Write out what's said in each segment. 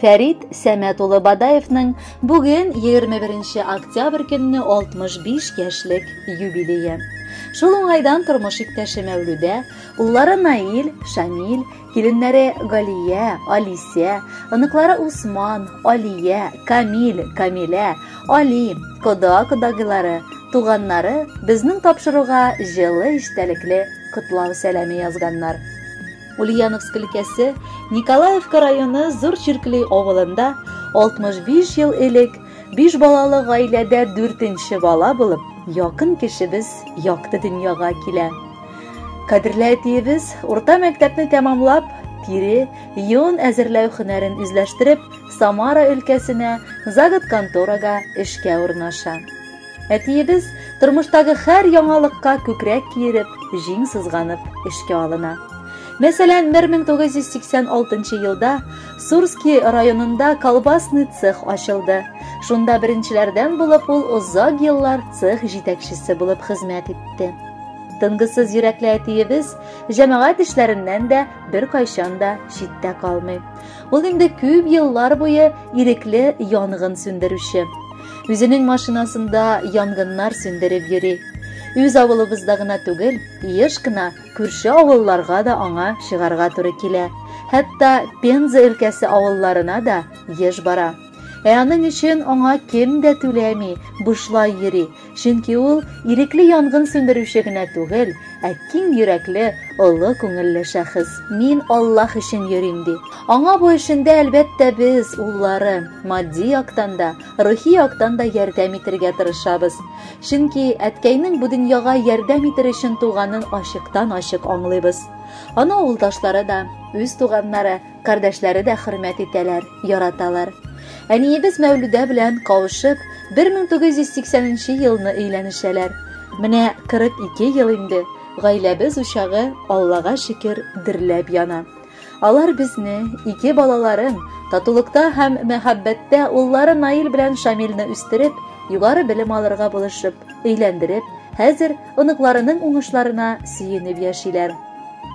Фәрит Сәмәт улы Бадаевның бүген 21 октябрь көнне 65 яшьлек юбилее. Шул уңайдан тормыш иптәше Мәүлүдә, уллары Наил, Шамил, киленнәре Галия, Алисә, оныклары Усман, Алия, Камил, Камилә, Али, кода кодагылары, туганнары безнең тапшыруга җылы эчтәлекле котлау сәламе язганнар. Ульяновск өлкәсе, Николаевка районы Зур Чиркли авылында 65 ел элек биш балалы гаиләдә дүртенче бала булып, якын кешебез якты дөньяга килә. Кадерле әтиебез урта мәктәпне тәмамлап, тире, йон әзерләү һөнәрен үзләштереп, Самара өлкәсенә заготконторага эшкә урнаша. Әтиебез тормыштагы хәр яңалыкка күкрәк киереп, җиң сызганып эшкә алына. Мәсәлән, 1986 елда Сурски районында колбасный цех ачылды. Шунда беренчеләрдән булып ул озак еллар цех җитәкчесе булып хезмәт итте. Тынгысыз йөрәкле әтиебез җәмәгать эшләреннән дә беркайчан да читтә калмый. Ул инде күп еллар буе ирекле янгын сүндерүче. Үзенең машинасында янгыннар сүндереп йөри. Үз авылыбызда гына түгел, еш кына күрше авылларга да аңа чыгарга туры килә. Хәтта Пенза өлкәсе авылларына да еш бара. Ә аның өчен аңа кем дә түләми, бушлай йөри. Чөнки ул ирекле янгын сүндерүче генә түгел, Ә киң йөрәкле, олы күңелле шәхес, мин Аллаһ өчен йөрим, ди. Аңа бу эшендә, әлбәттә, без, уллары, матди яктан да, рухи яктан да ярдәм итергә тырышабыз. Чөнки әткәйнең бу дөньяга ярдәм итер өчен туганын ачыктан-ачык аңлыйбыз. Аны авылдашлары да, үз туганнары, Кардәшләре дә хөрмәт итәләр, яраталар. Әниебез Мәүлүдә белән кавышып, 1980 елны өйләнешәләр. Менә 42 ел инде гаиләбез учагы Аллага шөкер дөрләп яна. Алар безне, ике балаларын, татулыкта һәм мәхәббәттә уллары Наил белән Шамилне үстереп, югары белем алырга булышып, өйләндереп, хәзер оныкларының уңышларына сөенеп яшиләр.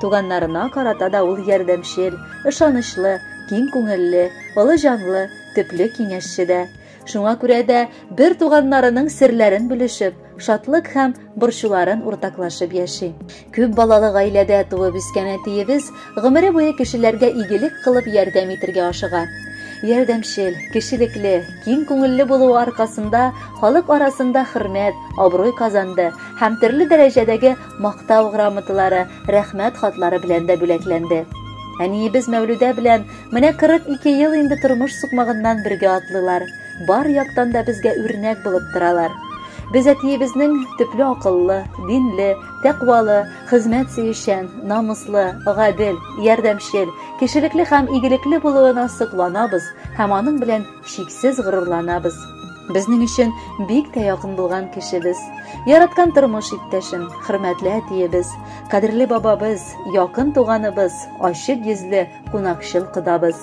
Туганнарына карата да ул ярдәмчел, ышанычлы, киң күңелле, олы җанлы, төпле киңәшче дә. Шуңа күрә дә бер туганнарының серләрен бүлешеп, шатлык һәм борчуларын уртаклашып яши. Күп балалы гаиләдә туып үскән әтиебез Гомере буе кешеләргә игелек кылып ярдәм итергә ашыга. Ярдәмчел, кешелекле, киң күңелле булуы аркасында халык арасында хөрмәт, абруй казанды һәм төрле дәрәҗәдәге Мактау грамоталары, Рәхмәт хатлары белән дә бүләкләнде. Әниебез Мәүлүдә белән менә 42 ел инде тормыш сукмагыннан бергә атлыйлар. Бар яктан да безгә үрнәк булып торалар. Без әтиебезнең төпле акыллы, динле, тәкъвалы, Хезмәт сөючән, намуслы, гадел, ярдәмчел, кешелекле һәм игелекле булуына сокланабыз һәм аның белән чиксез горурланабыз. Безнең өчен бик тә якын булган кешебез, яраткан тормыш иптәшем, хөрмәтле әтиебез, кадерле бабабыз, якын туганыбыз, ачык йөзле, кунакчыл кодабыз.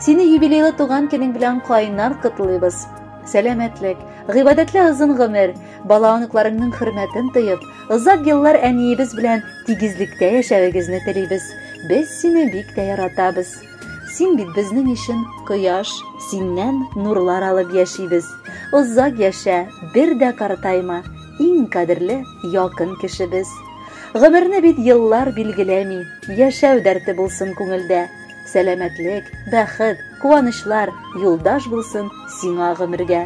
Сине юбилейлы туган көнең белән кайнар котлыйбыз. Сәламәтлек, гыйбадәтле озын гомер, Бала-оныкларыңның хөрмәтен тоеп, озак еллар әниебез белән тигезлектә яшәвегезне телибез. Без сине бик тә яратабыз. Син бит безнең өчен кояш, синнән нурлар алып яшибез. Озак яшә, бер дә картайма, иң кадерле якын кешебез. Гомерне бит еллар билгеләми, яшәү дәрте булсын күңелдә. Сәламәтлек, бәхет, куанычлар юлдаш булсын сиңа гомергә.